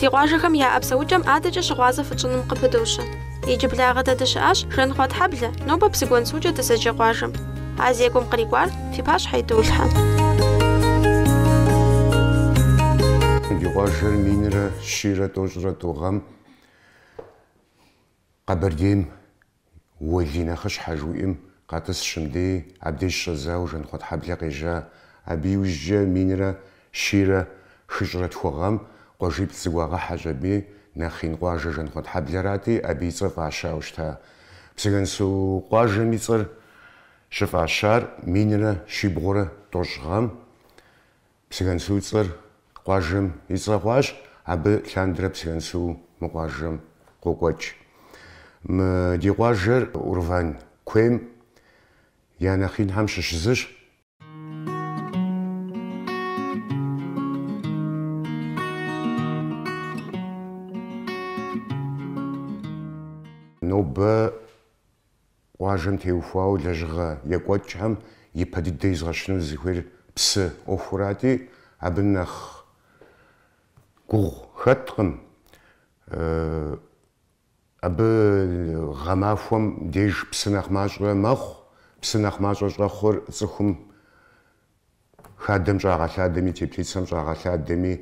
Ди къуажэхэм яӏэ псэукӏэм адэкӏэ щыгъуазэ фытщӏыным къыпыдощэ. Иджыблагъэ дэ дыщыӏащ, Жэнхъуэтхьэблэ, нобэ Псыгуэнсукӏэ дызэджэ къуажэм. А зекӏуэм кърикӏуар фи пащхьэ идолъхьэ. Ди къуажэр минрэ щийрэ тӏощӏрэ тӏу гъэм. Къэбэрдейм уэлий нэхъыщхьэжьу иӏэм къэтӏысщ мыдей, абдеж щӏэдзауэ Жанхъуэтхьэблэ къежьа. Абы иужькӏэ минрэ щийрэ хыщӏрэ тху гъэм къуажиплӏ зыгуагъэхьэщ аби, нэхъ ин къуажэ Жанхъуэтхьэблэрати, абы и цӏэр фӏащауэ щыта. Псыгэнсу къуажэм и цӏэр щыфӏащар минрэ щибгъурэ тӏощӏ гъэм Псыгэнсу цӏэр къуажэм и цӏэ хъуащ, абы лъандэрэ Псыгэнсу мы къуажэм къокӏуэкӏ. Мы ди къуажэр Урван куейм я нэхъинхэм щыщ зыщ. Нобэ Къуажэм теухуауэ лэжьыгъэ екӏуэкӏхэм ипэ дыдэ изгъэщыну зыхуейр псы ӏуэхурати, абы нэхъ гугъу хэткъым. Абы гъэмахуэм деж псы нэхъ мащӏэ мэхъу, псы нэхъ мащӏэ щӏэхъур цӏыхум хадэм щӏагъэлъадэми, теплицэм щӏагъэлъадэми,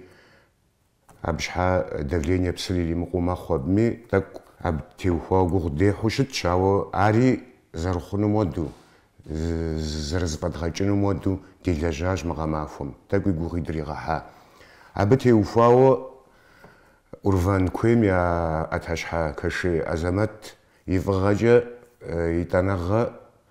Абы щхьа давление псыр иримыкъуу мэхъу абыми, тӏэкӏу абы теухуауэ гугъу дехьу щытщ, ауэ ари зэрыхъунум хуэдэу, зэрызэфӏэдгъэкӏынум хуэдэу делэжьащ мы гъэмахуэм, тӏэкӏуи гугъуи дригъэхьа. Абы теухуауэ Урван куейм я ӏэтащхьэ Кашей Азэмэт и фӏыгъэкӏэ етӏанэгъэ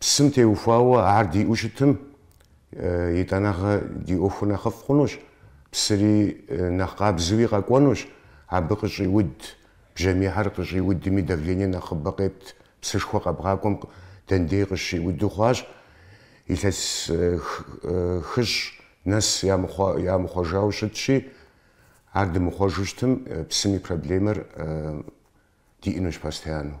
Псым теухуауэ ар диӏэу щытым, етӏанэгъэ ди ӏуэхур нэхъыфӏ хъунущ, псыри нэхъ къабзэуи къэкӏуэнущ, абы къыщӏиуд бжьамийхэр къыщӏиудми давление нэхъыбэ къепт, псышхуэ къэбгъакӏуэм дэндей къыщиуду хъуащ, илъэс хыщӏ нэс ямыхъуэжауэ щытщи, ар дымыхъуэжу щытым, псым и проблемэр диӏэнущ постояннэу.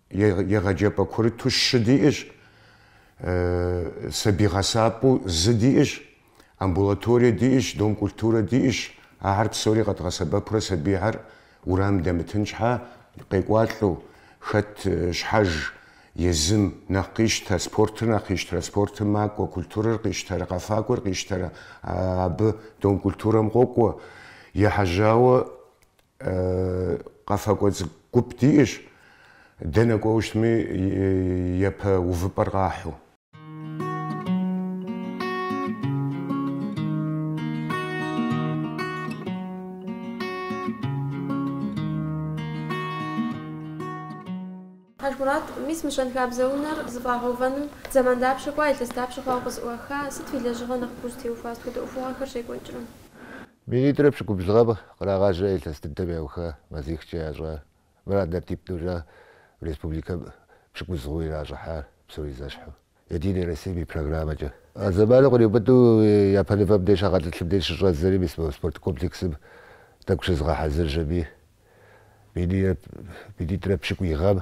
егъэджэпӏэ курыту щы диӏэщ, сабий гъэсапӏэу зы диӏэщ, амбулаторие диӏэщ, дом культурэ диӏэщ. Ахэр псори къэдгъэсэбэпурэ сабийхэр уэрамым дэмытын щхьа, къекӏуалӏэу, хэт щхьэж езым нэхъ къищтэ, спортыр нэхъ къищтэрэ, спортым макӏуэ, культурэр къищтэрэ, къэфакӏуэр къищтэрэ, абы дом культурэм къокӏуэ. Ехьэжьауэ Къэфакӏуэ цӏыкӏу гуп диӏэщ, дэнэ кӏуэуэ щытми, япэ увыпӏэр къахьу. Хьэжмурат, мис мы щэнхабзэ унэр зэфӏагъэувэным зэман дапщэ кӏуа, илъэс дапщэ хъуауэ къызыӏуаха, сыт уи лэжьыгъэ нэхъыбэу зытеухуа, сыт хуэдэ ӏуэхугъуэхэр щекӏуэкӏрэ? Минитӏрэ пщыкӏубл гъэм кърагъажьэри илъэс дыдэм яуха мазихкӏэ ящӏа мыр однотипнэурэ республикэм пщыкӏуз хъууэ иращӏыхьар псори зэщхьу, Единой Россием и программэкӏэ. А зэманым къриубыдэу япэныфэм деж хьэгъэлӏылъым деж щыщӏэдзэри мис мы спорт комплексым тӏэкӏу щызгъэхьэзыржэми, минитӏрэ пщыкӏуий гъэм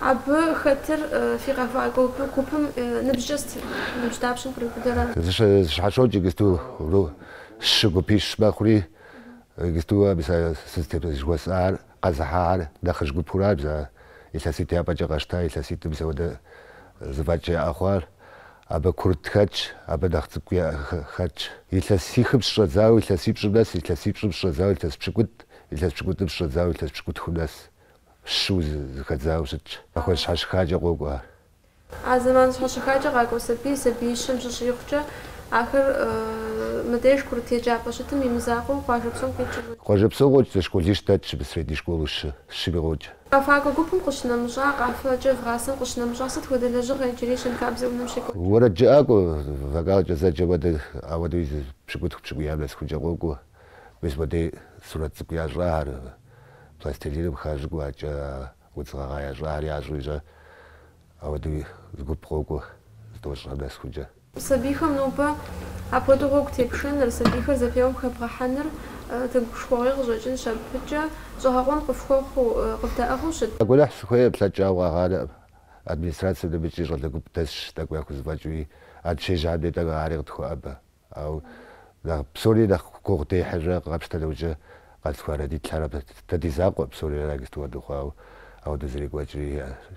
Абы хэтыр фи къэфакӏуэ гупым ныбжькӏэ сытыр, ныбжь дапщэм къриубыдэрэ? Зэщхьэщокӏ иджысту гу щы гупищ мэхъури, иджысту абы сэ степень жыхуэсӏар къэзыхьар нэхъыжь гупыращ бзэ илъэситӏ япэкӏэ къэсщта, илъэситӏым мис ауэдэ зэфӏэкӏ яӏэ хъуар. Абы курыт хэтщ, абы нэхъ цӏыкӏуи хэтщ. Илъэсихым щыщӏэдзауэ илъэсипщӏым нэс, илъэсипщӏым щыщӏэдзауэ илъэс пщыкӏутӏ, илъэс пщыкӏутӏым щыщӏэдзауэ илъэс пщыкӏутхум нэс. щыуэ зэхэдзауэ щытщ. Махуэ щхьэщыхакӏэ къокӏуэ ар. А зэман щхьэщыхакӏэ къакӏуэ сабий, сабиищэм щыщӏигъукӏэ, ахэр мыдеж курыт еджапӏэ щытым имызакъуэу къуажэ псом къикӏыу? Къуажэ псом къокӏ зы школищ дэтщ абы средней школу щы, щыми къокӏ. Къэфакӏуэ гупым къыщынэмыщӏа, къафэкӏэ вгъасэм къыщынэмыщӏа сыт хуэдэ лэжьыгъэ иджыри щэнхабзэ унэм щекӏуэкӏ? Уэрэд жыӏакӏуэ, вокалкӏэ зэджэ хуэдэ, ауэдэуи зы пщыкӏутху пщыкӏуям нэсыхункӏэ къокӏуэ. Мис модэ сурэт цӏыкӏу ящӏар, пластилиным хащӏыкӏыу адкӏэ удз гъэгъа ящӏар ящӏу ищӏэ. Ауэдэу зы гуп къокӏуэ зы тӏощӏым нэсыхункӏэ. Сабийхэм нобэ апхуэдэу гъуэгу тепшэныр, сабийхэр зэпеуэм хэбгъэхьэныр тегушхуэгъуей къыщӏэкӏынщ, абыкӏэ щӏэгъэкъуэн къыфхуэхъуу, къывдэӏыгъыу щыт? Гуэныхь сыхуейкъым, плъэкӏауэ къагъанэкъым. Администрацэм мыбыкӏи щӏалэ гуп дэсщ тӏэкӏу яхузэфӏэкӏыуи, а дыщежьам дей тӏэкӏу ари къытхуэӏэбэ. Ауэ нэхъ псори нэхъ гугъу дехьыжэ къапщтэ нэужькӏэ къэзылъхуа родителхэр ар дэ ди закъуэ псори аращ иджысту хуэдэу хъуауэ ауэдэ зэрекӏуэкӏри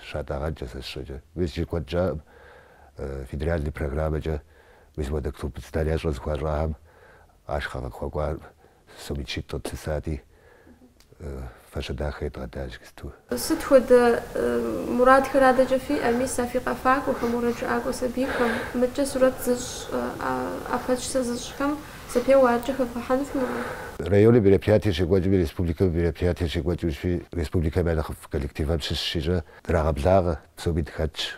щатӏэгъэнкӏэ сэ сщӏэкӏэ мис иджы куэд щӏаӏым федеральный программэкӏэ мис уэдэ клуб зданиещӏэ зыхуащӏахэм ахъшэ къыхуэкӏуа Сом мин щитӏ къытлъысати, фэщэ дахэ едгъэдащ иджысту. Сыт хуэдэ мурадхэр адэкӏэ фиӏэ? Мис а фи къэфакӏуэхэм, уэрэджыӏакӏуэ сабийхэм, мыдкӏэ сурэт зыщӏ, ӏэпэщысэ зыщӏхэм зэпеуэ адэкӏэ хэвгъэхьэну фи мурад? Районым мероприятиер щекӏуэкӏми, республикэм мероприятиер щекӏуэкӏыу щытми, республикэм я нэхъыфӏ коллективхэм щыщ щищӏэ драгъэблагъэ, псоми дыхэтщ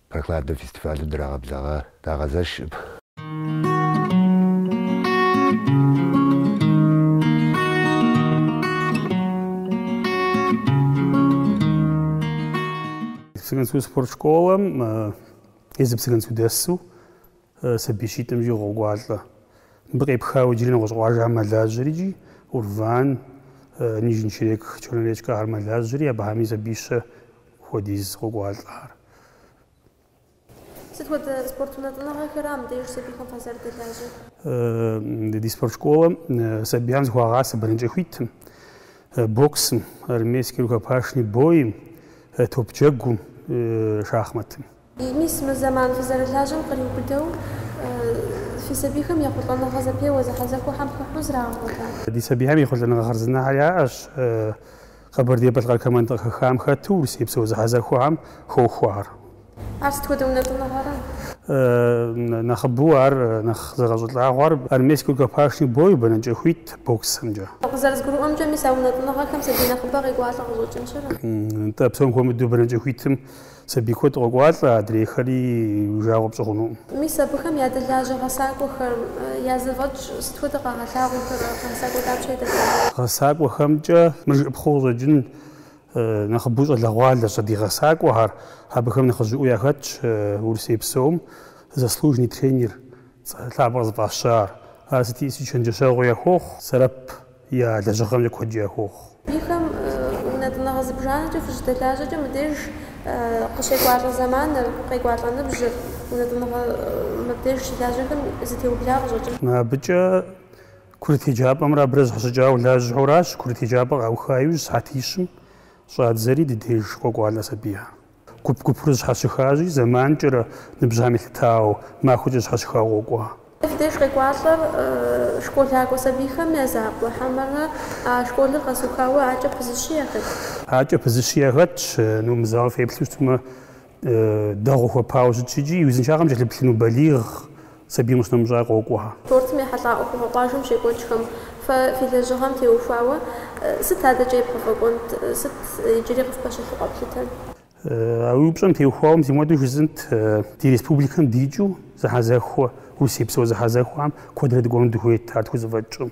Прохладнэ фестивалым драгъэблэгъа дагъэзэшым. Псыгуэнсу спорт школэм езы Псыгуэнсу дэсу сабий щитӏым щӏигъу къокӏуалӏэ. Мыбы къепхауэ иджыри нэгъуэщӏ къуажэхэр мэлажьэри икӏи Урван, Нижний Черек, Черноречка ахэр мэлажьэри, абыхьэми сабийщэ хуэдиз къокӏуалӏэхэр. Сыт хуэдэ спорт унэтӏыныгъэхэра мыбдеж сабийхэм фазэрыдэлажьэр? Ди спорт школэм сабийхэм зыхуагъасэ бэнэкӏэ хуитым, боксым, армейский рукопашный бойм, топджэгум, шахматым. Мис мы зэман фызэрылажьэм къриубыдэу, фи сабийхэм ехъулӏэныгъэ зэпеуэ зэхьэзэхуэхэм хыхьэу зрагъэгъуэта? Ди сабийхэм ехъулӏэныгъэ хъарзынэхэр яӏэщ Къэбэрдей-Балъкъэр командэ къыхэхам хэту урысейпсо зэхьэзэхуэхэм хохуэхэр. Ар сыт хуэдэ унэтӏыныгъэра? Нэхъыбэу ар нэхъ зэгъэщӏылӏагъуэр армейскэ рукопашный бой бэнэкӏэ хуит боксымкӏэ. Къызэрызгурыӏуэмкӏэ, мис а унэтӏыныгъэхэм сабий нэхъыбэ къекӏуалӏэ къыщӏэкӏынщ ар. Нтӏэ, псом хуэмыдэу бэнэкӏэ хуитым. Сабий куэд къокӏуалӏэ, адрейхэри уи жагъуэ пщӏы хъунукъым. Мис абыхэм ядэлажьэ гъэсакӏуэхэм я зэфӏэкӏ сыт хуэдэ къагъэлъагъуэхэр, а гъэсакӏуэ дапщэ ядэлажьэ? Гъэсакӏуэхэмкӏэ мыр жыӏэпхъэу къыщӏэкӏын нэхъыбэу щӏалэгъуалэщ ди гъэсакӏуэхэр. Абыхэм нэхъыжьыӏуэу яхэтщ Урысей псом заслуженный тренер цӏэ лъапӏэр зыфӏащар. Ар сыткӏи сыт чэнджэщэгъуи яхуохъу, сэбэп я лэжьыгъэмкӏэ куэдкӏэ яхуохъу. Сабийхэм унэтӏыныгъэ зыбжанэкӏэ фыщыдэлажьэкӏэ мыбдеж къыщекӏуалӏэ зэманыр, къекӏуалӏэ ныбжьыр, унэтӏыныгъэ мыбдеж щылажьэхэм зэтеубла къыщӏэкӏынщ. Абыкӏэ курыт еджапӏэмрэ абырэ зэхэщӏыкӏауэ лажьэу аращ, курыт еджапӏэ къауха иужь сыхьэтищым щӏадзэри ди деж къокӏуалӏэ сабийхэр. Гуп-гупурэ зэщхьэщыхащи, зэманкӏэрэ ныбжьым елъытауэ, махуэкӏэ зэщхьэщыхауэ къокӏуэ. Фи деж къекӏуалӏэр школакӏуэ сабийхэм я закъуэ хьэмэрэ а школыр къэзыухауэ адэкӏэ пызыщи яхэт? Адэкӏэ пызыщи яхэтщ. Ну, мы залыр феплъу щытмэ, дэгъуэу хуэпауэ щытщ икӏи, и узыншагъэм кӏэлъыплъыну балигъ Сабийм къыщынэмыщӏа къокӏуэхэ. Спортым ехьэлӏа ӏуэхугъуэ къуажэм щекӏуэкӏхэм фэ фи лэжьыгъэм теухуауэ сыт адэкӏэ ебгъэфӏэкӏуэнт, сыт иджыри къыфпэщылъу къэплъытэн? А уи упщӏэм теухуауэ мис мыпхуэдэу жысӏэнт, ди республикэм дикӏыу зэхьэзэхуэ, Урысейпсо зэхьэзэхуэхэм куэдрэ дыкӏуэну дыхуейт ар тхузэфӏэкӏкъым.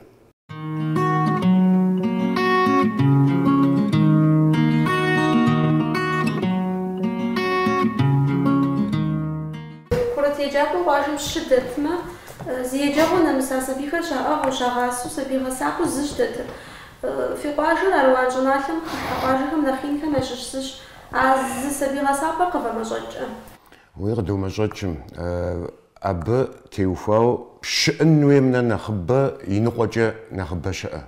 Курыт еджапӏэу къуажэм щы дэтмэ, зи еджэгъуэ нэмыса сабийхэр щаӏыгъыу, щагъасэу, сабий гъэсапӏэу зыщ дэтыр. Фи къуажэр Аруан щӏыналъэм хыхьэ къуажэхэм нэхъ инхэм ящыщ зыщ. А зы сабий гъэсапӏэр къывэмэщӏэкӏкъэ? Уи къыдомэщӏэкӏым, абы теухуау щыӏын хуейм нэ нэхъыбэ иныкъуэкӏэ нэхъыбэ щыӏэ.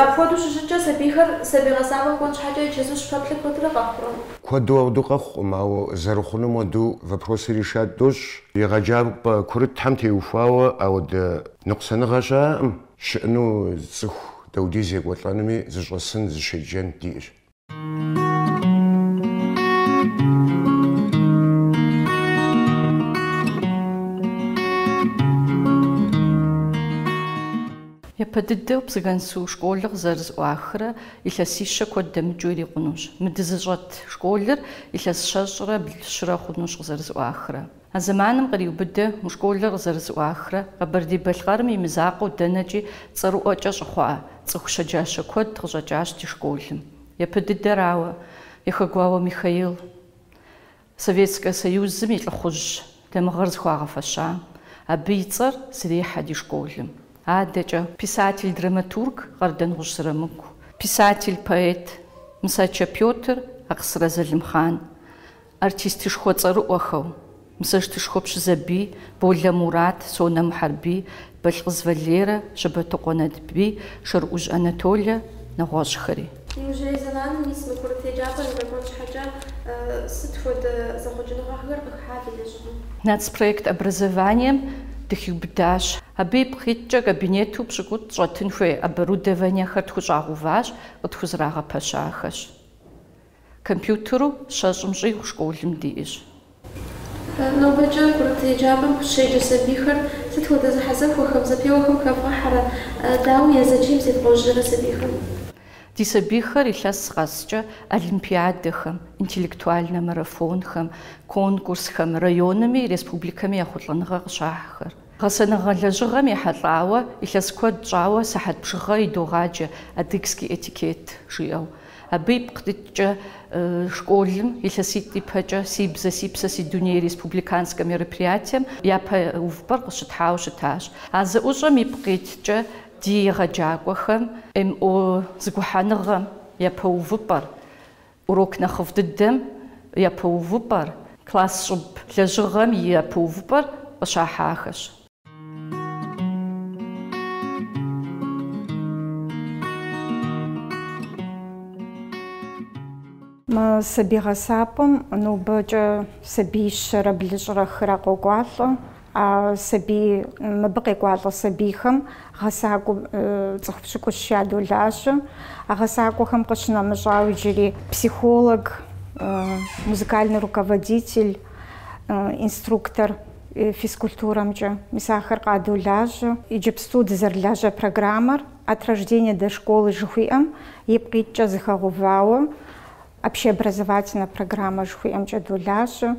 Апхуэдэу щыщыткӏэ, сабийхэр сабий гъэсапӏэм кӏуэн щхьэкӏэ чэзум пэплъэу куэдрэ къэхъурэ? Куэду ауэду къэхъукъым, ауэ зэрыхъунум уэду вопросыр решать дощӏ. Егъэджапӏэ курытхэм теухуауэ ауэдэ ныкъусаныгъэ щыӏэкъым, щыӏыну цӏыху даудиз екӏуэлӏэнуми зыщӏэсын, зыщеджэн диӏэщ. Япэ дыдэу Псыгансу школыр къызэрызӏуахрэ илъэсищэ куэд дэмыкӏыу ирикъунущ. Мы дызыщӏэт школыр илъэс щэщӏрэ блырэ хъунущ къызэрызӏуахрэ. А зэманым къриубыдэу мы школыр къызэрызыӏуахрэ Къэбэрдей-Балъкъэрым и мызакъуэу дэнэкӏи цӏэрыӏуэкӏэ щыхъуа цӏыху щэджащэ куэд къыщӏэкӏащ ди школым. Япэ дыдэрауэ, Яхэгуауэ Михаил Советскэ Союзым и лӏыхъужь дамыгъэр зыхуагъэфэща. Абы и цӏэр зрехьэ ди школым. Адэкӏэ. Писатель-драматург Къардэнгъущӏ Зырамыку. Писатель-поэт Мысачэ Пётр, Акъсырэ Залымхъан. Артистышхуэ цӏэрыӏуэхэу, Мысостышхуэ Пщызэбий, Болэ Мурат, Сонэ Мухьэрбий, Балъкъыз Валерэ, Щэбэтыкъуэ Натбий, Шэрыӏужь Анатолэ, нэгъуэщӏхэри. Иужьрей зэманым мис мы курыт еджапӏэр здэкӏуэн щхьэкӏэ сыт хуэдэ зэхъуэкӏыныгъэхэр къыхыхьа фи лэжьыгъэм? Нацпроект образованием дыхиубыдащ. Абы ипкъ иткӏэ кабинету пщӏыкӏутӏ щӏэтын хуей оборудованиехэр тхущӏагъэуващ, къытхузэрагъэпэщахэщ. Компьютеру щэщӏым щӏигъу школым диӏэщ. Нобэкӏэ курыт еджапӏэм къыщеджэ сабийхэр сыт хуэдэ зэхьэзэхуэхэм, зэпеуэхэм хэвгъэхьэрэ, дауи я зэчийм зевгъэужьрэ сабийхэм? Ди сабийхэр илъэс къэскӏэ олимпиадэхэм, интеллектуальнэ марафонхэм, конкурсхэм, районми, республикэми ехъулӏэныгъэ къыщахьхэр. Гъэсэныгъэ лэжьыгъэм ехьэлӏауэ илъэс куэд щӏауэ сыхьэт бжыгъэ идогъаджэ Адыгский этикет жиӏэу. Абы ипкъ иткӏэ школым илъэситӏ ипэкӏэ Си бзэ, си псэ, си дуней республиканскэ мероприятием япэ увыпӏэр къыщытхьауэ щытащ. А зэӏущӏэм ипкъ иткӏэ ди егъэджакӏуэхэм МО зыгухьэныгъэм япэ увыпӏэр, урок нэхъыфӏ дыдэм япэ увыпӏэр, класс щӏыб лэжьыгъэми япэ увыпӏэр къыщахьахэщ. Мы сабий гъэсапӏэм нобэкӏэ сабий щэрэ блыщӏрэ хырэ къокӏуалӏэ. А сабий, мыбы къекӏуалӏэ сабийхэм гъэсакӏуэ цӏыху пщыкӏущ ядолажьэ. А гъэсакӏуэхэм къыщынэмыщӏауэ иджыри психолог, музыкальный руководитель, инструктор, физкультурэмкӏэ. Мис ахэр къадолажьэ. Иджыпсту дызэрылажьэ программэр От рождения до школы жыхуиӏэм ипкъ иткӏэ зыхэгъэувауэ общеобразовательнэ программэ жыхуиӏэмкӏэ долажьэ.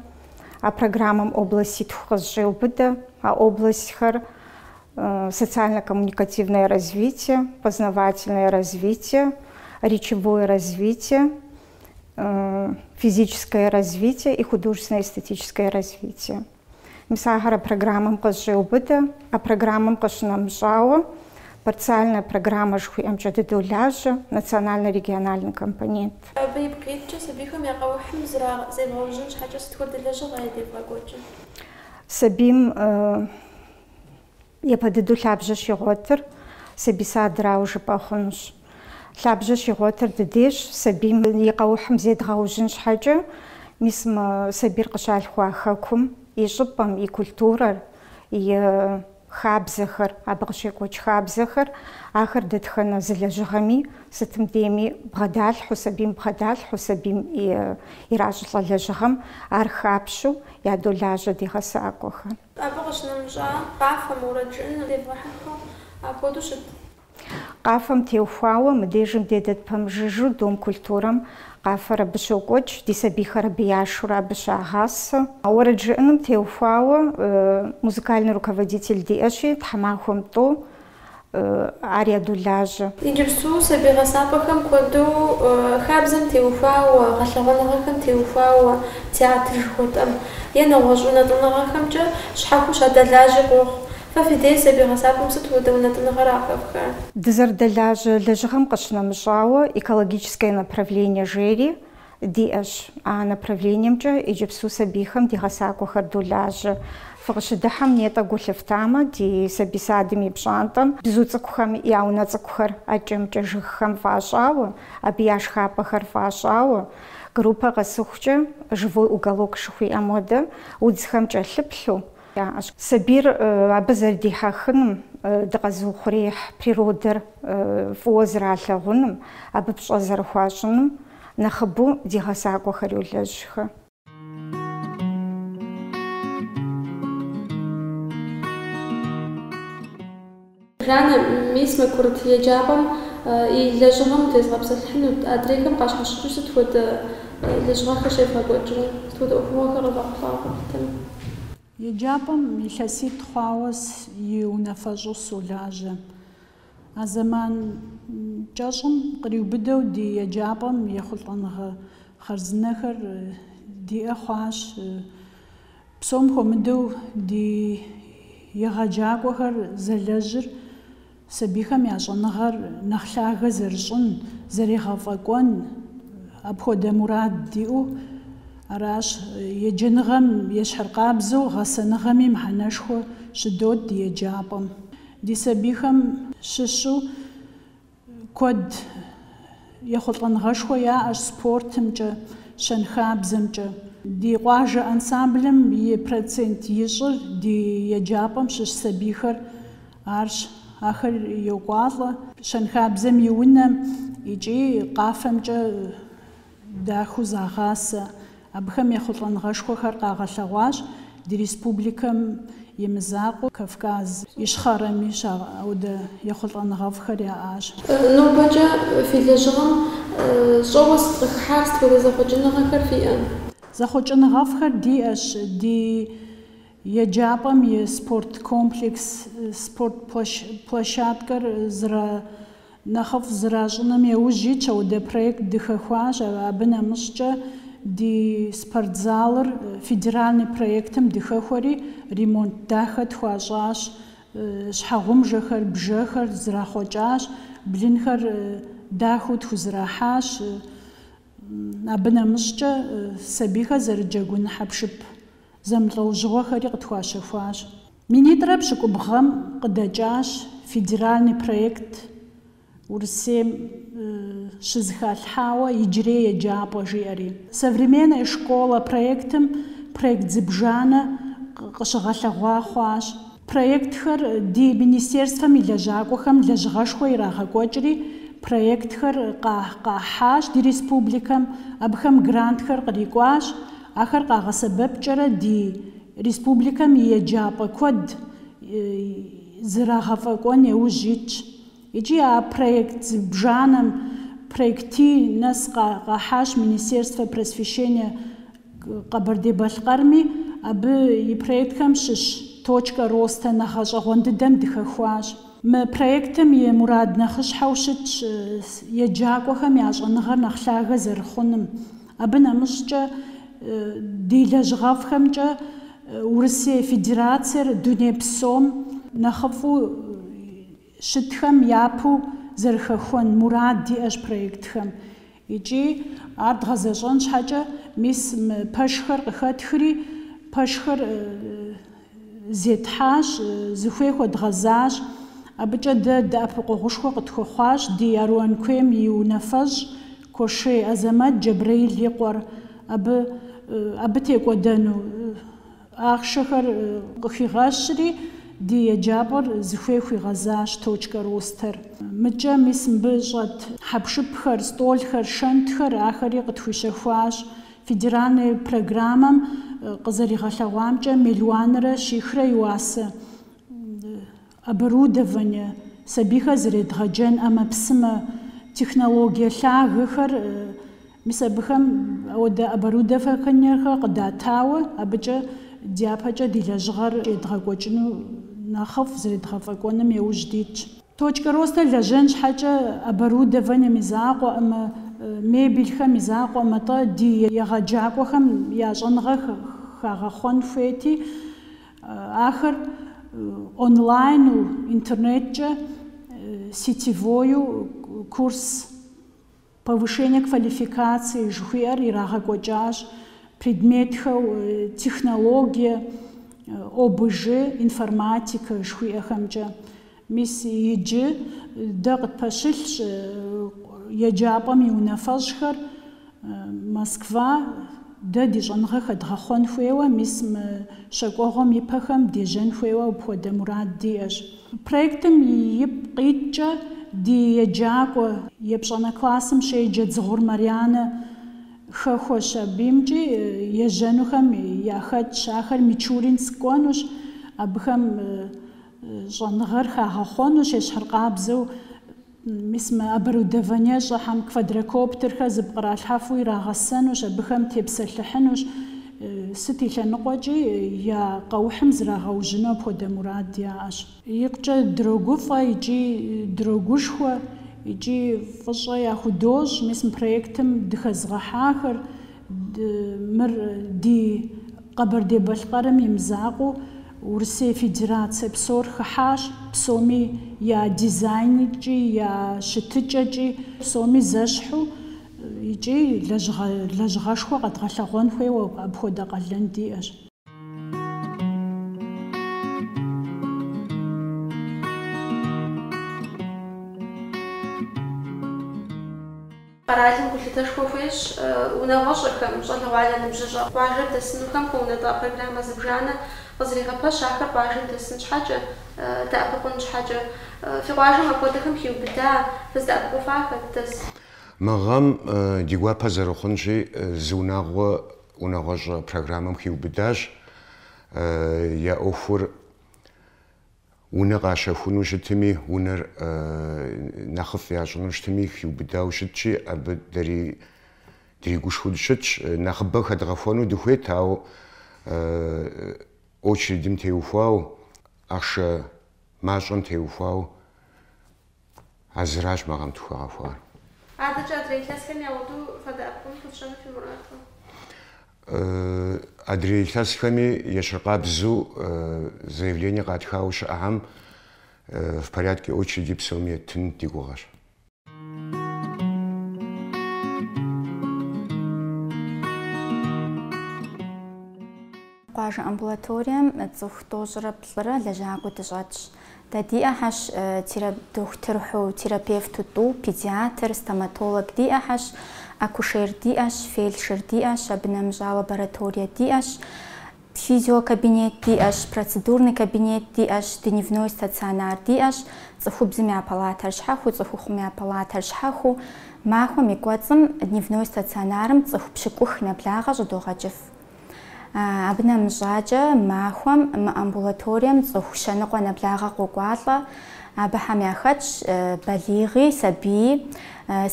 А программэм областитху къызыщӏеубыдэ. А областьхэр социально-коммуникативное развитие, познавательное развитие, речевое развитие. физическое развитие и художественно-эстетическое развитие. Мис ахэр а программэм къызщӏеубыдэ, а программэм къыщынэмыщӏауэ парциальная программэ жыхуиӏэмкӏэ дыдолажьэ, национально-региональный компонент. Абы ипкъ иткӏэ сабийхэм я къэухьым зебгъэужьын щхьэкӏэ сыт хуэдэ лэжьыгъэ евгъэкӏуэкӏыр? Сабийм Япэ дыдэу лъабжьэ щигъуэтыр сабий садрауэ жыпӏэ хъунущ. Лъабжьэ щигъуэтыр ди дейщ, сабийм и къэухьым зедгъэужьын щхьэкӏэ. Мис мы сабийр къыщалъхуа хэкум и щӏыпӏэм, и культурэр, и хабзэхэр, абы къыщекӏуэкӏ хабзэхэр, ахэр дэтхэнэ зы лэжьыгъэми, сытым дейми бгъэдалъхьэу, сабийм бгъэдалъхьэу, сабийм иращӏылӏэ лэжьыгъэм ар хапщу ядолажьэ ди гъэсакӏуэхэр. Абы къыщынэмыщӏа къафэм, уэрэд жыӏэным девгъэхьэхыу апхуэдэу щыт. Къафэм теухуауэ мыдежым ди дейт пэмыжыжу Дом культурэм. Къафэр абы щокӏуэкӏ, ди сабийхэр абы яшурэ абы щагъасэ. Уэрэд жыӏэным теухуауэ музыкальный руководитель диӏэщи, тхьэмахуэм тӏэу. ар ядолажьэ. Иджыпсту сабий гъэсапӏэхэм куэду хабзэм теухуауэ, гъэлъэгъуэныгъэхэм теухуауэ театр жыхуэтӏэм е нэгъуэщӏ унэтӏыныгъэхэмкӏэ щхьэхуэу щадэлажьи къохъу. Фэ фи дей сабий гъэсапӏэм сыт хуэдэ унэтӏыныгъэра хэфхар? Дызэрыдэлажьэ лэжьыгъэм къыщынэмыщӏауэ, экологическое направление жери, диӏэщ. А направлениемкӏэ иджыпсту сабийхэм ди гъэсакӏуэхэр долажьэ. Фыкъыщыдыхьэм нетӏэ гу лъыфтамэ, ди сабий садым и пщӏантӏэм бзу цӏыкӏухэм я унэ цӏыкӏухэр адэкӏэ-мыдэкӏэ жыгхэм фӏащӏауэ, абы я шхапӏэхэр фӏащӏауэ, группэ къэсыхукӏэ, живой уголок жыхуиӏэм хуэдэ, удзхэм кӏэлъыплъу, яӏэщ. Сабийр абы зэрыдихьэхыным, дыкъэзыухъуреихь природэр фӏыуэ зралъэгъуным, абы пщӏэ зэрыхуащӏыным Нэхъыбэу ди гъэсакӏуэхэр йолэжьхэ. Жанна, мис мы курыт еджапӏэм и лэжьыгъэм тезгъэпсэлъыхьынут. Адрейхэм къащхьэщыкӏыу сыт хуэдэ лэжьыгъэхэр щевгъэкӏуэкӏрэ? Сыт хуэдэ ӏуэхугъуэхэр къывэхъулӏауэ къэплъытэрэ? Еджапӏэм илъэситӏ хъуауэ и унафэщӏу солажьэ. А зэман кӏэщӏым къриубыдэу ди еджапӏэм ехъулӏэныгъэ хъарзынэхэр диӏэ хъуащ. Псом хуэмыдэу ди егъэджакӏуэхэр зэлэжьыр сабийхэм я щӏэныгъэр нэхъ лъагэ зэрыщӏын, зэригъэфӏэкӏуэн, апхуэдэ мурад диӏэу аращ. Еджэныгъэм ещхьыркъабзэу гъэсэныгъэми мыхьэнэшхуэ щыдот ди еджапӏэм. Ди сабийхэм щыщу куэд ехъулӏэныгъэшхуэ яӏэщ спортымкӏэ, щэнхабзэмкӏэ. Ди къуажэ ансамблым и процент ищӏыр ди еджапӏэм щыщ сабийхэр арщ. Ахэр йокӏуалӏэ щэнхабзэм и унэм икӏи къафэмкӏэ. дахэу загъасэ. Абыхэм ехъулӏэныгъэшхуэхэр къагъэлъэгъуащ ди республикэм и мызакъуэу Кавказ Ищхъэрэми апхуэдэ ехъулӏэныгъэфӏхэр яӏащ. Нобэкӏэ фи лэжьыгъэм щӏэуэ сыт къыхыхьар, сыт хуэдэ зэхъуэкӏыныгъэхэр фиӏэ? Зэхъуэкӏыныгъэфӏхэр диӏэщ. Ди еджапӏэм и спорт комплекс, спорт площадкэр зэра. Нэхъыфӏ зращӏыным яужь итщ, апхуэдэ проект дыхэхуащ, абы нэмыщӏкӏэ ди спортзалыр федеральный проектым дыхэхуэри, ремонт дахэ тхуащӏащ, щхьэгъумжэхэр, бжэхэр зрахъуэкӏащ, блынхэр дахэу тхузэрахьащ, абы нэмыщӏкӏэ сабийхэр зэрыджэгун хьэпшып зэмылӏэужьыгъуэхэри къытхуащэхуащ. Минитӏрэ пщыкӏубгъу гъэм къыдэкӏащ федеральный проект Урысейм щызэхалъхьауэ Иджырей еджапӏэ жиӏэри. Современная школа проектым проект зыбжанэ къыщыгъэлъэгъуа хъуащ. Проектхэр ди министерствэм и лэжьакӏуэхэм лэжьыгъэшхуэ ирагъэкӏуэкӏри, проектхэр къахьащ ди республикэм, абыхэм грантхэр кърикӏуащ. Ахэр къагъэсэбэпкӏэрэ ди республикэм и еджапӏэ куэд зрагъэфӏэкӏуэн еужь итщ. Икӏи а проект зыбжанэм проекти нэс къахьащ Министерствэ просвещения Къэбэрдей-Балъкъэрми, абы и проектхэм щыщ Точка роста мы гъэщӏэгъуэн дыдэм дыхэхуащ. Мы проектым и мурад нэхъыщхьэу щытщ еджакӏуэхэм я щӏэныгъэр нэхъ лъагэ зэрыхъуным, Абы нэмыщӏкӏэ, ди лэжьыгъэфӏхэмкӏэ Урысей Федерациер дуней псом нэхъыфӏу щытхэм япэу зэрыхэхуэн мурад диӏэщ проектхэм икӏи ар дгъэзэщӏэн щхьэкӏэ мис пэшхэр къыхэтхри, пэшхэр зетхьащ, зыхуей хуэдгъэзащ. Абыкӏэ дэ дэӏэпыкъуэгъушхуэ къытхуэхъуащ ди Аруан куейм и унафэщӏ Кошей Азэмэт Джэбрэил и къуэр, абы абы текӏуэдэну ахъшэхэр къыхигъэкӏри, ди еджапӏэр зыхуей хуигъэзащ точкэ ростэр. Мыкӏэ мис мыбы щӏэт хьэпшыпхэр, стӏолхэр, шэнтхэр ахэри къытхуищэхуащ. Федеральный программэм къызэригъэлъэгъуамкӏэ, миллионрэ щихрэ и уасэ оборудование, сабийхэр зэредгъэджэн ӏэмэпсымэ, технологие лъагэхэр, мис абыхэм хуэдэ оборудованиехэр къыдатауэ, абыкӏэ дяпэкӏэ ди лэжьыгъэр едгъэкӏуэкӏыну нэхъыфӏ зэредгъэфӏэкӏуэным еужь дитщ. Точкэ роста лэжьэн щхьэкӏэ оборудованием и закъуэкъым, мебелхэм и закъуэкъым, атӏэ ди егъэджакӏуэхэм я щӏэныгъэ хагъэхъуэн хуейти, ахэр онлайну, интернеткӏэ, сетевою курс Повышение квалификации жыхуиӏэр ирагъэкӏуэкӏащ предметхэу технологие, ОБЖ, информатикэ жыхуиӏэхэмкӏэ. Мис иджы дэ къытпэщылъщ еджапӏэм и унафэщӏхэр Москва дэ ди щӏэныгъэ хэдгъэхъуэн хуейуэ, мис мы щакӏуэгъуэм ипэхэм дежьэн хуейуэ апхуэдэ мурад диӏэщ. Проектым ипкъ иткӏэ ди еджакӏуэ, епщӏанэ классым щеджэ Дзыгъур Марьянэ хэхуащ. Абымкӏи ежьэнухэм яхэтщ. Ахэр Мичуринск кӏуэнущ, абыхэм щӏэныгъэр хагъэхъуэнущ, ещхьыркъабзэу. Мис мы оборудованиещӏэхьэм квадрокоптерхэр зыпкъралъхьэфу ирагъэсэнущ, абыхэм тепсэлъыхьынущ, сыт и лъэныкъуэкӏи, я къэухьым зрагъэужьыну апхуэдэ мурад яӏэщ. Икъукӏэ дрогуфӏэ икӏи дрогушхуэ икӏи фӏыщӏэ яхудощӏ мис мы проектым дыхэзгъэхьахэр, мыр ди. Къэбэрдей-Балъкъэрым и мызакъуэу Урысей Федерацие псор хыхьащ, псоми я дизайнкӏи, я щытыкӏэкӏи, псоми зэщхьу икӏи лэжьыгъэшхуэ къэдгъэлъэгъуэн хуейуэ апхуэдэ къалэн диӏэщ. Къэралым гулъытэшхуэ хуещӏ унагъуэщӏэхэм, щӏалэгъуалэ ныбжьыщӏэ къуажэм дэсынухэм хуэунэтӏа программэ зыбжанэ къызэрегъэпэщ ахэр къуажэм дэсын щхьэкӏэ, дэӏэпыкъун щхьэкӏэ. Фи къуажэм апхуэдэхэм хиубыда, фыздэӏэпыкъуфахэр дэс? Мы гъэм ди гуапэ зэрыхъунщи, зы унагъуэ унагъуэщӏэ программэм хиубыдащ, я ӏуэхур. Унэ къащэхуну щытми, унэр нэхъыфӏ ящӏыну щытми, хиубыдауэ щытщи, абы дэри дригушхуэу дыщытщ. Нэхъыбэ хэдгъэхуэну дыхуейт, ауэ очередым теухуауэ, ахъшэ мащӏэм теухуауэ А зыращ мы гъэм тхухэгъэхуар. Адэкӏэ адрей илъэсхэм яхуэдэу фадэӏэпыкъун хуэфщӏэну фи мурад? Адрей илъэсхэми ещхьыркъабзу заявление къатхауэ щыӏэхьэм в порядке очереди псоми еттын ди гугъэщ. Къуажэ амбулаторием цӏыху тӏощӏрэ плӏырэ лэжьакӏуэ дыщӏэтщ. Дэ диӏэхьэщ дохутырхьу, терапевту тӏу, педиатр, стоматолог диӏэхьэщ, акушер диӏэщ, фельдшер диӏэщ, абы нэмыщӏа лабораторие диӏэщ, физиокабинет диӏэщ, процедурный кабинет диӏэщ, дневной стационар диӏэщ, цӏыхубзым я палатэр щхьэхуу, цӏыхухъум я палатэр щхьэхуу. Махуэм и кӏуэцӏым дневной стационарым цӏыху пщыкӏух нэблагъэ щӏыдогъэкӏыф. Абы нэмыщӏакӏэ, махуэм мы амбулаторием цӏыху щэныкъуэ нэблагъэ къокӏуалӏэ. Абыхэм яхэтщ балигъи, сабийи,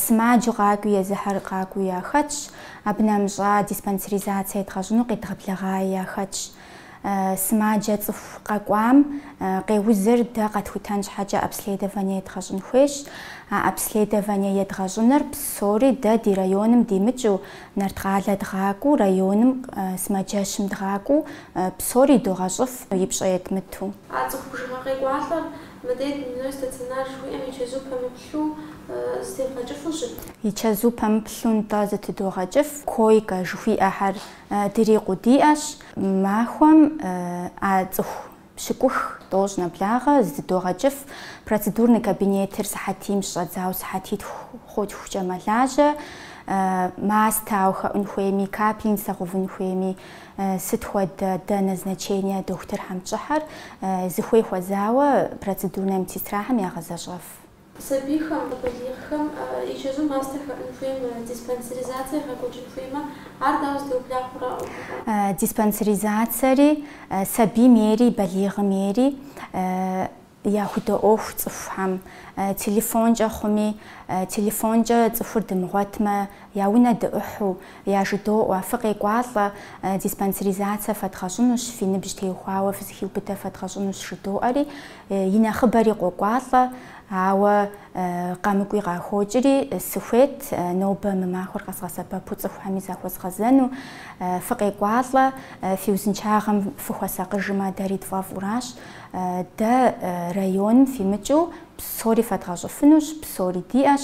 сымаджэу къакӏуи, езыхьэр къакӏуи яхэтщ. Абы нэмыщӏа диспансеризацие едгъэщӏыну къедгъэблэгъаи яхэтщ. Сымаджэ цӏыху къэкӏуам къеузыр дэ къэтхутэн щхьэкӏэ обследование едгъэщӏын хуейщ. А обследование едгъэщӏыныр псори дэ ди районым димыкӏыу, Нарткъалэ дгъакӏуэу, районым сымаджэщым дгъакӏуэу, псори догъэщӏыф и пщӏэ етмыту. А цӏыху бжыгъэ къекӏуалӏэр мыдей дневной стационар жыхуиӏэм и чэзу пэмыплъу зытебгъэкӏыфу щыт. И чэзу пэмыплъу нтӏэ зытыдогъэкӏыф. Койкэ жыхуиӏэхэр дырикъуу диӏэщ. Махуэм а цӏыху Пщыкӏух, тӏощӏ нэблагъэ, зытыдогъэкӏыф, процедурный кабинетыр сыхьэтийм щыщӏэдзауэ сыхьэтитху хъутхукӏэ мэлажьэ, мастэ ауэ хэӏун хуейми, капельницэ гъэувын хуейми, сыт хуэдэ, дэ назначение дохутырхэм тщӏыхэр, зыхуей хуэзауэ процедурнэ медсестрахэм ягъэзэщӏэф. Сабийхэм, балигъхэм и чэзу мастэ хэӏун хуеймэ, диспансеризацэ егъэкӏуэкӏын хуеймэ, ар дауэ зэтеубла хъурэ, ӏуэхугъуэ? Диспансеризацэри сабийм ейри балигъым ейри яхудоӏуэху цӏыхухэм. Телефонкӏэ хъуми, телефонкӏэ цӏыхур дымыгъуэтмэ, я унэ дыӏухьу, Яжыдоӏуэ, фыкъекӏуалӏэ, диспансеризацэ фэдгъэщӏынущ, фи ныбжь теухуауэ фызыхиубыдэ фэдгъэщӏынущ жыдоӏэри, и нэхъыбэри къокӏуалӏэ, ауэ къэмыкӏуи къахокӏри, сыхуейт нобэ мы махуэр къэзгъэсэбэпу цӏыхухэми захуэзгъэзэну. Фыкъекӏуалӏэ, фи узыншагъэм фыхуэсакъыжмэ, дэри тфӏэфӏуращ. Дэ районым фимыкӏыу псори фэдгъэщӏыфынущ, псори диӏэщ.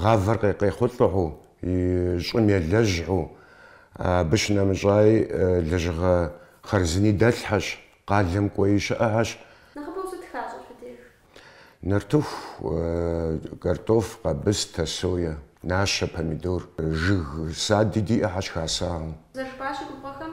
Гъавэр къе- къехъулӏэхэу, и щӏым елэжьхэу, абы щынэмыщӏаи лэжьыгъэ хъарзыни дэлъхэщ, къалэм кӏуэи щыӏэхэщ. Нэхъыбэу сыт хащӏэ фи деж? Нартыху, картоф, къабыстэ, сое, нащэ, помидор. Жыг сади диӏэхэщ хасахэу. Зэрыжыпӏащи, губгъуэхэм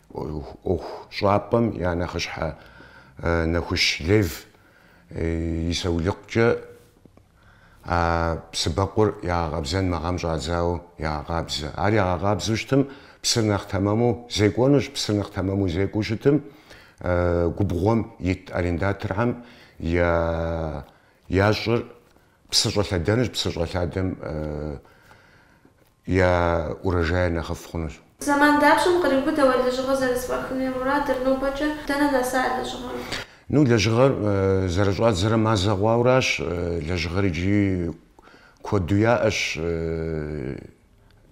ӏуэху щӏапӏэм я нэхъыщхьэ Нэхущ Лев и саулыкъукӏэ а псы бэкъур ягъэкъэбзэн мэгъэм щӏадзауэ ягъэкъабзэ. Ар ягъэкъабзэу щытым, псыр нэхъ тэмэму зекӏуэнущ. Псыр нэхъ тэмэму зекӏуэу щытым, губгъуэм ит арендаторхэм я щӏыр псы щӏэлъэдэнущ, псы щӏэлъадэм Я урожайр нэхъыфӏ хъунущ. Зэман дапщэм къриубыдэу а лэжьыгъэр зэрызэфӏахыну я мурадыр, нобэкӏэ дэнэ нэса а лэжьыгъэр? Ну, лэжьыгъэр зэрыщӏадзэрэ мазэ хъуауращ. Лэжьыгъэр иджыри куэду яӏэщ,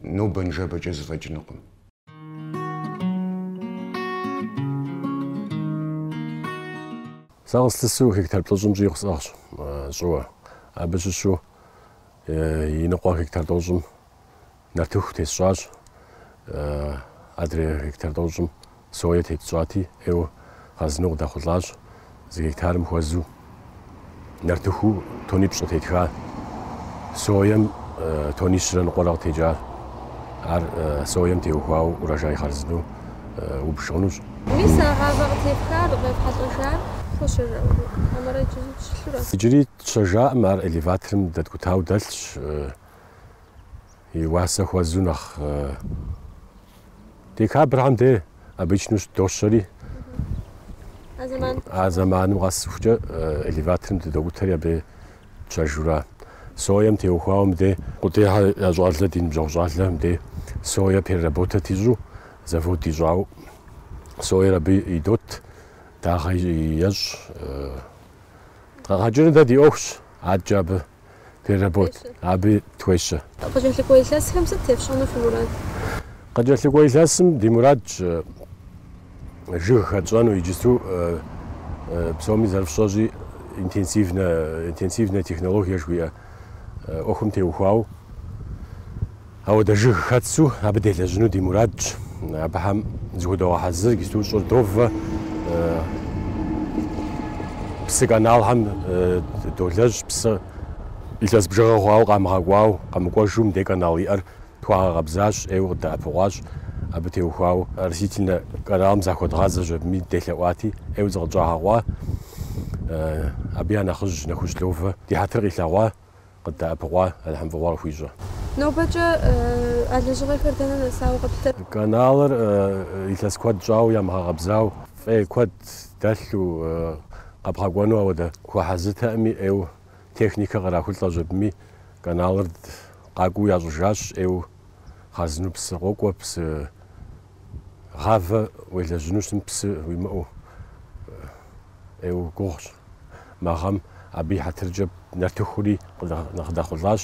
нобэ-ныжэбэкӏэ зэфӏэкӏынукъым. Сэ къыслъысу гектар плӏыщӏым щӏигъу сӏыгъщ щӏыуэ. Абы щыщу и ныкъуэ гектар тӏощӏым нартыху тесщӏащ, адрей гектар тӏощӏым сое тетщӏати, ӏейуэ хъарзыну къыдэхъулӏащ. Зы гектарым хуэзэу нартыху тонипщӏ къытетха, соем тонищрэ ныкъуэрэ къытекӏа. Ар соем теухуауэ урожай хъарзынэу убж хъунущ. Мис а гъавэ къытепхар къефхьэлӏэжар фщэжа хьэмэрэ иджыри щылъурэ? Иджыри тщэжаӏым, ар элеваторым дэткӏутауэ дэлъщ. и уасэ хуэзу нэхъ декабрхэм де обычно дощэри а зэманым къэсыхукӏэ элеваторым дыдокӏутэри абы тщэжура соем теухуауэ мыде Къудейхэ я щӏалэ ди ныбжьэгъу щӏалэ мыде соя переработать ищӏу завод ищӏауэ соер абы идот дагъэ ещӏ къэгъэкӏыныр дэ ди ӏуэхущ адэкӏэ абы переработ, абы тхуещэ. Къыкӏэлъыкӏуэ илъэсхэм сыт фщӏэну фи мурад? Къыкӏэлъыкӏуэ илъэсым ди мурадщ жыг хэтщӏэну, иджысту псоми зэрыфщӏэщӏи интенсивнэ технологие жыхуиӏэ ӏуэхум теухуауэ. Ауэдэ жыг хэтсу абы делэжьыну ди мурадщ. Абыхэм зыхудогъэхьэзыр иджысту щӏыр довэ, псы каналхэм долэжь, псы илъэс бжыгъэ хъуауэ къамыгъэкӏуауэ къэмыкӏуэжу мыдей канал иӏэр тхуагъэкъэбзащ, ӏейуэ къыддэӏэпыкъуащ абы теухуауэ. Оросительнэ каналым захуэдгъазэщ, абыми делъэӏуати, ӏейуэ зыкъытщӏагъэкъуа. Абы я нэхъыжь Нэхущ Ловэ ди хьэтыр къилъэгъуа. къыддэӏэпыкъуа, Алыхьым фӏыгъуэ къыхуищӏэ. Нобэкӏэ а лэжьыгъэхэр дэнэ нэсауэ къэплъытэрэ? Каналыр илъэс куэд щӏауэ ямыгъэкъэбзауэ, фӏей куэд дэлъу къэбгъэкӏуэну ауэдэ хуэхьэзыртэӏыми, ӏейуэ техникэ кърахулӏэщ абыми. Каналыр къакӏуэу ящӏыжащ, ӏейуэ хъарзынэу псы къокӏуэ, псы. гъавэ уелэжьыну щытым псы уимыӏэу ӏейуэ гугъущ. Мы гъэм абы и хьэтыркӏэ нартыхури къыдэхъулӏащ,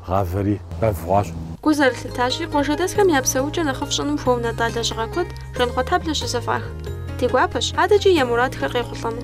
гъавэри бэв хъуащ. Гу зэрылъыттащи, къуажэдэсхэм я псэукӏэ нэхъыфӏ щӏыным хуэунэтӏа лэжьыгъэ куэд Жанхъуэтхьэблэ щызэфӏах. Ди гуапэщ, адэкӏи я мурадхэр къехъулӏэну.